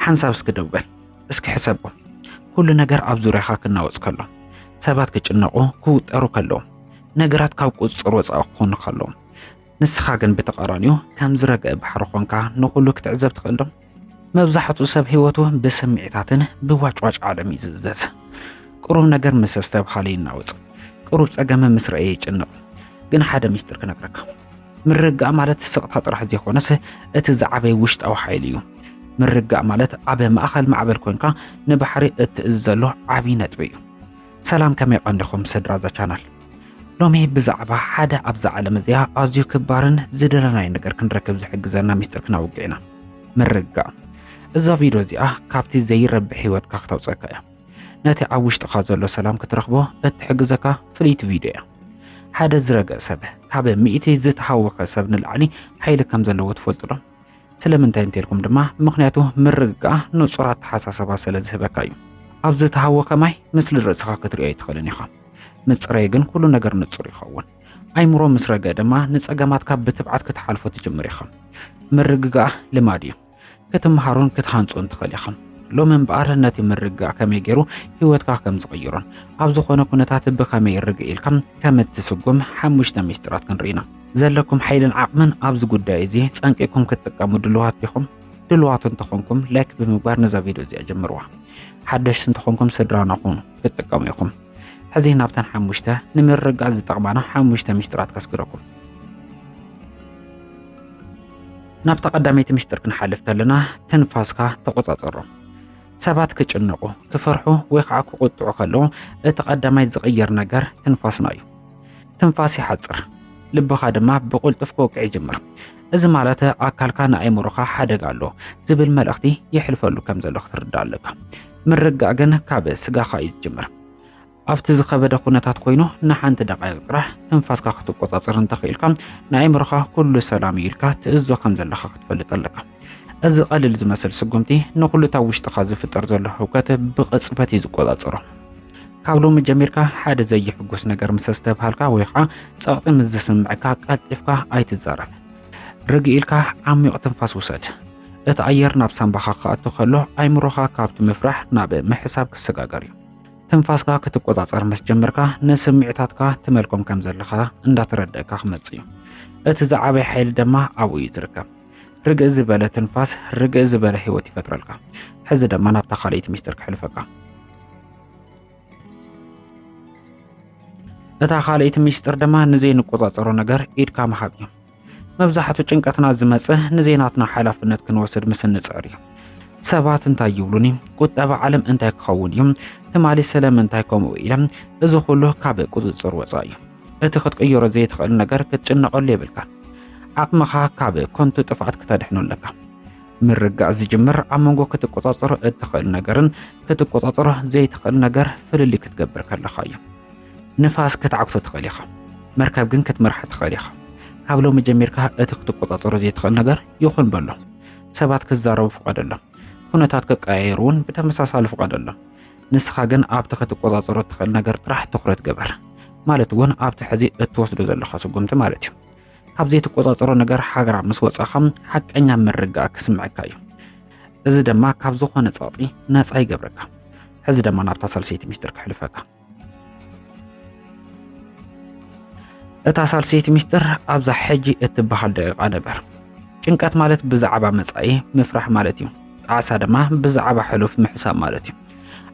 ሓንሳብ እስኪ ደው በል፣ እስኪ ሕሰቦ። ኩሉ ነገር ኣብ ዙርያኻ ክናወጽ ከሎ፣ ሰባት ክጭነቑ ክውጠሩ ከለዉ፣ ነገራት ካብ ቁጽጽር ወጻኢ ክኾኑ ከለዉ፣ ንስኻ ግን ብተቓራኒኡ ከም ዝረግአ ባሕሪ ኾንካ ንኹሉ ክትዕዘብ ትኽእል ዶ? መብዛሕትኡ ሰብ ህይወቱ ብስምዒታትን ብዋጭዋጭ ዓለም ይዝዘዝ። ቅሩብ ነገር ምስ ኣስተብሃለ ይናወጽ፣ ቅሩብ ጸገም ምስ ረእየ ይጭንቕ። ግን ሓደ ሚስጥር ክነግረካ፣ ምርጋእ ማለት ስቕታ ጥራሕ ዘይኮነስ እቲ ዝዓበየ ውሽጣዊ ሓይሊ እዩ። ምርጋእ ማለት ኣብ ማእኸል ማዕበል ኮንካ ንባሕሪ እትእዝ ዘሎ ዓብዪ ነጥቢ እዩ። ሰላም ከመይ ቀንዲኹም ስድራ እዛ ቻናል ሎሚ ብዛዕባ ሓደ ኣብዛ ዓለም እዚኣ ኣዝዩ ክባርን ዝደለናዮ ነገር ክንረክብ ዝሕግዘና ሚስጥር ክናውግዕ ኢና ምርጋእ እዛ ቪድዮ እዚኣ ካብቲ ዘይረብሕ ህይወትካ ክተውፀካ እያ ነቲ ኣብ ውሽጥኻ ዘሎ ሰላም ክትረኽቦ እትሕግዘካ ፍልይቲ ቪድዮ እያ ሓደ ዝረገእ ሰብ ካብ ሚእቲ ዝተሃወኸ ሰብ ንላዕሊ ሓይሊ ከም ዘለዎ ትፈልጡ ዶ ስለምንታይ እንተልኩም ድማ ምክንያቱ ምርግጋእ ንፁር ኣተሓሳሰባ ስለ ዝህበካ እዩ ኣብ ዝተሃወኸ ማይ ምስሊ ርእስኻ ክትሪኦ ኣይትኽእልን ኢኻ ምጽረይ ግን ኩሉ ነገር ንጹር ይኸውን። ኣይምሮ ምስ ረገ ድማ ንጸገማትካ ብትብዓት ክትሓልፎ ትጅምር ኢኻ። ምርግጋእ ልማድ እዩ። ክትምሃሩን ክትሃንጹን ትኽእል ኢኻ። ሎሚ እምበኣር ነቲ ምርግጋእ ከመይ ገይሩ ህይወትካ ከም ዝቕይሮን ኣብ ዝኾነ ኩነታት ብኸመይ ርግእ ኢልካ ከም እትስጉም ሓሙሽተ ሚስጢራት ክንርኢ ኢና። ዘለኩም ሓይልን ዓቕምን ኣብዚ ጉዳይ እዚ ጸንቂኩም ክትጥቀሙ ድልዋት ዲኹም? ድልዋት እንተኾንኩም ላይክ ብምግባር ነዛ ቪድዮ እዚኣ ጀምርዋ። ሓደሽቲ እንተኾንኩም ስድራና ኹኑ። ክትጥቀሙ ኢኹም። ሕዚ ናብተን ሓሙሽተ ንምርግጋእ ዝጠቕማና ሓሙሽተ ሚስጥራት ከስግረኩም። ናብታ ቀዳመይቲ ሚስጥር ክንሓልፍ ከለና ትንፋስካ ተቆጻጸሮ። ሰባት ክጭነቑ፣ ክፈርሑ ወይ ከዓ ክቁጥዑ ከለዉ እቲ ቀዳማይ ዝቕየር ነገር ትንፋስና እዩ። ትንፋስ ይሓጽር፣ ልብኻ ድማ ብቁልጡፍ ክወቅዕ ይጅምር። እዚ ማለት ኣካልካ ንኣእምሮኻ ሓደጋ ኣሎ ዝብል መልእኽቲ ይሕልፈሉ ከም ዘሎ ክትርዳእ ኣለካ። ምርጋእ ግን ካብ ስጋኻ እዩ ዝጅምር። ኣብቲ ዝኸበደ ኩነታት ኮይኑ ንሓንቲ ደቃይቕ ጥራሕ ትንፋስካ ክትቆጻጸር እንተኽኢልካ ንኣእምሮኻ ኩሉ ሰላም እዩ ኢልካ ትእዞ ከም ዘለኻ ክትፈልጥ ኣለካ። እዚ ቀሊል ዝመስል ስጉምቲ ንኹሉ እታ ውሽጥኻ ዝፍጠር ዘሎ ህውከት ብቕጽበት እዩ ዝቆጻጸሮ። ካብ ሎሚ ጀሚርካ ሓደ ዘይሕጉስ ነገር ምስ ዝተብሃልካ ወይ ከዓ ጸቕጢ ምስ ዝስምዕካ ቀልጢፍካ ኣይትዛረብ። ርግእ ኢልካ ዓሚቕ ትንፋስ ውሰድ። እቲ ኣየር ናብ ሳምባኻ ክኣቱ ከሎ ኣይምሮኻ ካብቲ ምፍራሕ ናብ ምሕሳብ ክሰጋገር እዩ። ትንፋስካ ክትቆጻጸር ምስ ጀመርካ ንስምዒታትካ ትመልኮም ከም ዘለኻ እንዳተረደእካ ክመጽእ እዩ። እቲ ዝዓበየ ሓይሊ ድማ ኣብኡ እዩ ዝርከብ። ርግእ ዝበለ ትንፋስ ርግእ ዝበለ ህይወት ይፈጥረልካ። ሕዚ ድማ ናብታ ካልኣይቲ ሚስጥር ክሕልፈካ እታ ካልኣይቲ ሚስጥር ድማ ንዘይንቆጻጸሮ ነገር ኢድካ ምሃብ እዩ መብዛሕትኡ ጭንቀትና ዝመጽእ ንዜናትና ሓላፍነት ክንወስድ ምስ እንጽዕር እዩ ሰባት እንታይ ይብሉኒ ቁጠባ ዓለም እንታይ ክኸውን እዩ ትማሊ ስለምንታይ ከምኡ ኢለ እዚ ኩሉ ካብ ቁጽጽር ወፃእ እዩ እቲ ክትቅይሮ ዘይትኽእል ነገር ክትጭነቐሉ የብልካን ዓቕምኻ ካብ ኮንቱ ጥፍኣት ክተድሕኑ ኣለካ ምርጋእ ዝጅምር ኣብ መንጎ ክትቆጻጸሮ እትኽእል ነገርን ክትቆጻጸሮ ዘይትኽእል ነገር ፍልልይ ክትገብር ከለኻ እዩ። ንፋስ ክትዓግቶ ትኽእል ኢኻ፣ መርከብ ግን ክትመርሓ ትኽእል ኢኻ። ካብ ሎሚ ጀሚርካ እቲ ክትቆጻጸሮ ዘይትኽእል ነገር ይኹን በሎ። ሰባት ክዛረቡ ፍቐደሎም፣ ኩነታት ክቀያየሩ እውን ብተመሳሳሊ ፍቐደሎም። ንስኻ ግን ኣብቲ ክትቆጻጸሮ እትኽእል ነገር ጥራሕ ትኹረት ገበር፣ ማለት እውን ኣብቲ ሕዚ እትወስዶ ዘለኻ ስጉምቲ ማለት እዩ። ካብ ዘይትቆጻጸሮ ነገር ሓገራ ምስ ወጻኻ ሓቀኛ ምርጋእ ክስምዐካ እዩ እዚ ድማ ካብ ዝኾነ ጸቕጢ ነጻ ይገብረካ ሕዚ ድማ ናብታ ሳልሰይቲ ሚስጥር ክሕልፈካ እታ ሳልሰይቲ ሚስጥር ኣብዛ ሕጂ እትበሃል ደቂቓ ነበር ጭንቀት ማለት ብዛዕባ መጻኢ ምፍራሕ ማለት እዩ ጣዕሳ ድማ ብዛዕባ ሕሉፍ ምሕሳብ ማለት እዩ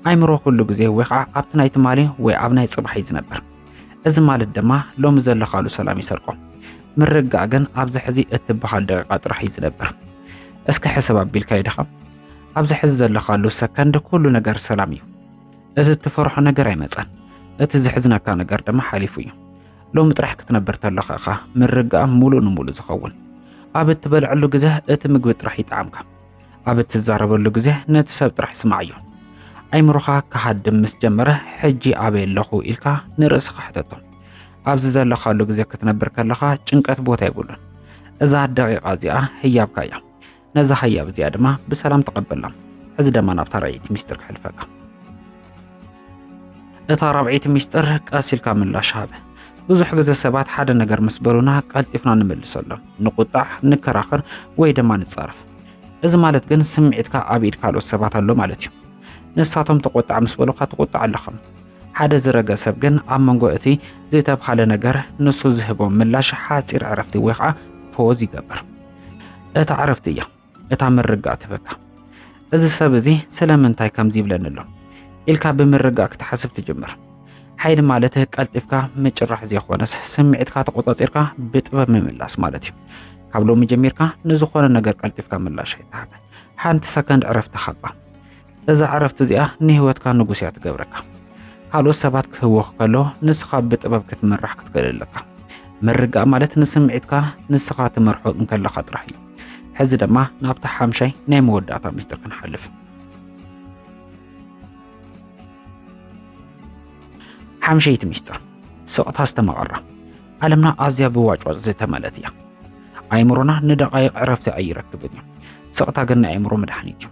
ኣይምሮ ኩሉ ግዜ ወይ ከዓ ኣብቲ ናይ ትማሊ ወይ ኣብ ናይ ጽባሕ እዩ ዝነበር እዚ ማለት ድማ ሎሚ ዘለኻሉ ሰላም ይሰርቆ። ምርጋእ ግን ኣብዚ ሕዚ እትበሃል ደቂቃ ጥራሕ እዩ ዝነብር። እስኪ ሕሰብ ኣቢልካ ይድኻ ኣብዚ ሕዚ ዘለኻሉ ሰከንድ ኩሉ ነገር ሰላም እዩ። እቲ እትፈርሖ ነገር ኣይመፀን። እቲ ዝሕዝነካ ነገር ድማ ሓሊፉ እዩ። ሎሚ ጥራሕ ክትነብር ተለኻ እኻ ምርጋእ ሙሉእ ንሙሉእ ዝኸውን። ኣብ እትበልዐሉ ግዘ እቲ ምግቢ ጥራሕ ይጠዓምካ። ኣብ እትዛረበሉ ግዜ ነቲ ሰብ ጥራሕ ስማዓዮ። ኣይምሮኻ ክሃድም ምስ ጀመረ ሕጂ ኣበይ ኣለኹ ኢልካ ንርእስኻ ሕተቶ። ኣብዚ ዘለኻሉ ግዜ ክትነብር ከለኻ ጭንቀት ቦታ የብሉን። እዛ ደቂቓ እዚኣ ህያብካ እያ። ነዛ ህያብ እዚኣ ድማ ብሰላም ተቐበላ። ሕዚ ደማ ናብታ ራእይቲ ሚስጥር ክሕልፈካ እታ ራብዒይቲ ሚስጥር ቀስ ኢልካ ምላሽ ሃበ። ብዙሕ ግዜ ሰባት ሓደ ነገር ምስ በሉና ቀልጢፍና ንመልሰሎም፣ ንቁጣዕ፣ ንከራኸር ወይ ድማ ንጻረፍ። እዚ ማለት ግን ስምዒትካ ኣብ ኢድ ካልኦት ሰባት ኣሎ ማለት እዩ። ንሳቶም ተቆጣዕ ምስ በሉካ ትቁጣዕ ኣለኹም። ሓደ ዝረገ ሰብ ግን ኣብ መንጎ እቲ ዝተብሃለ ነገር ንሱ ዝህቦም ምላሽ ሓፂር ዕረፍቲ ወይ ከዓ ፖዝ ይገብር። እታ ዕረፍቲ እያ እታ ምርጋእ ትበካ እዚ ሰብ እዚ ስለምንታይ ከምዚ ይብለኒ ኣሎ ኢልካ ብምርጋእ ክትሓስብ ትጅምር ሓይሊ ማለት ቀልጢፍካ ምጭራሕ ዘይኮነስ ስምዒትካ ተቆፃፂርካ ብጥበብ ምምላስ ማለት እዩ ካብ ሎሚ ጀሚርካ ንዝኾነ ነገር ቀልጢፍካ ምላሽ ኣይትሃብ ሓንቲ ሰከንድ ዕረፍቲ ሃባ እዛ ዕረፍቲ እዚኣ ንህይወትካ ንጉስ እያ ትገብረካ። ካልኦት ሰባት ክህወኽ ከሎ ንስኻ ብጥበብ ክትምራሕ ክትክእል ኣለካ። ምርጋእ ማለት ንስምዒትካ ንስኻ ትመርሖ እንከለኻ ጥራሕ እዩ። ሕዚ ድማ ናብቲ ሓምሻይ ናይ መወዳእታ ምስጢር ክንሓልፍ። ሓምሸይቲ ምስጢር ስቕታ ዝተመቐራ ዓለምና ኣዝያ ብዋጭዋጭ ዝተመለት እያ። ኣይምሮና ንደቓይቕ ዕረፍቲ ኣይረክብን እዩ። ስቕታ ግን ናይ ኣይምሮ መድሓኒት እዩ።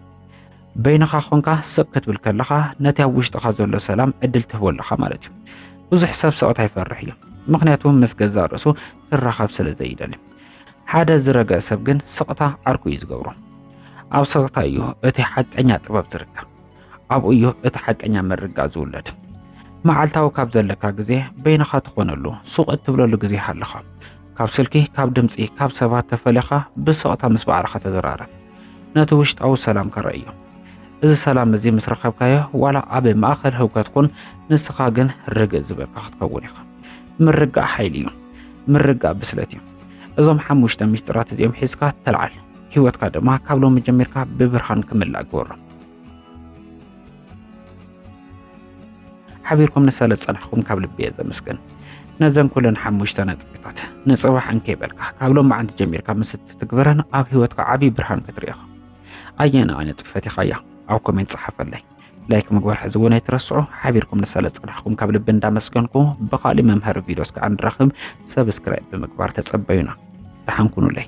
በይንኻ ኾንካ ስቕ ክትብል ከለኻ ነቲ ኣብ ውሽጥኻ ዘሎ ሰላም ዕድል ትህቦ ኣለኻ ማለት እዩ። ብዙሕ ሰብ ስቕታ ይፈርሕ እዩ፣ ምክንያቱ ምስ ገዛእ ርእሱ ክራኸብ ስለ ዘይደሊ። ሓደ ዝረገ ሰብ ግን ስቕታ ዓርኩ እዩ ዝገብሮ። ኣብ ስቕታ እዩ እቲ ሓቀኛ ጥበብ ዝርከብ፣ ኣብኡ እዩ እቲ ሓቀኛ ምርጋእ ዝውለድ። መዓልታዊ ካብ ዘለካ ግዜ በይንኻ ትኾነሉ ሱቕ እትብለሉ ግዜ ሃለኻ ካብ ስልኪ ካብ ድምፂ ካብ ሰባት ተፈለኻ ብስቕታ ምስ ባዕልኻ ተዘራረብ ነቲ ውሽጣዊ ሰላምካ ረእዮ እዚ ሰላም እዚ ምስ ረኸብካዮ ዋላ ኣብ ማእኸል ህውከት ኩን ንስኻ ግን ርግእ ዝበልካ ክትከውን ኢኻ ምርጋእ ሓይሊ እዩ ምርጋእ ብስለት እዩ እዞም ሓሙሽተ ሚስጥራት እዚኦም ሒዝካ ተልዓል ህይወትካ ድማ ካብ ሎሚ ጀሚርካ ብብርሃን ክምላእ ግበሮ ሓቢርኩም ንሰለ ዝጸናሕኩም ካብ ልቢ እየ ዘመስግን ነዘን ኩለን ሓሙሽተ ነጥብታት ንጽባሕ እንከይበልካ ካብ ሎማዓንቲ ጀሚርካ ምስ እትትግበረን ኣብ ህይወትካ ዓብዪ ብርሃን ክትርኢ ኢኻ ኣየና ዓይነት ጥፈት ኢኻ እያ ኣብ ኮሜንት ጸሓፈለይ ላይክ ምግባር ሕዚ እውን ኣይትረስዑ ሓቢርኩም ንሰለ ዝጸናሕኩም ካብ ልቢ እንዳመስገንኩ ብካሊእ መምሃሪ ቪድዮ እስከ እንራኽብ ሰብስክራይብ ብምግባር ተጸበዩና ደሓን ኩኑለይ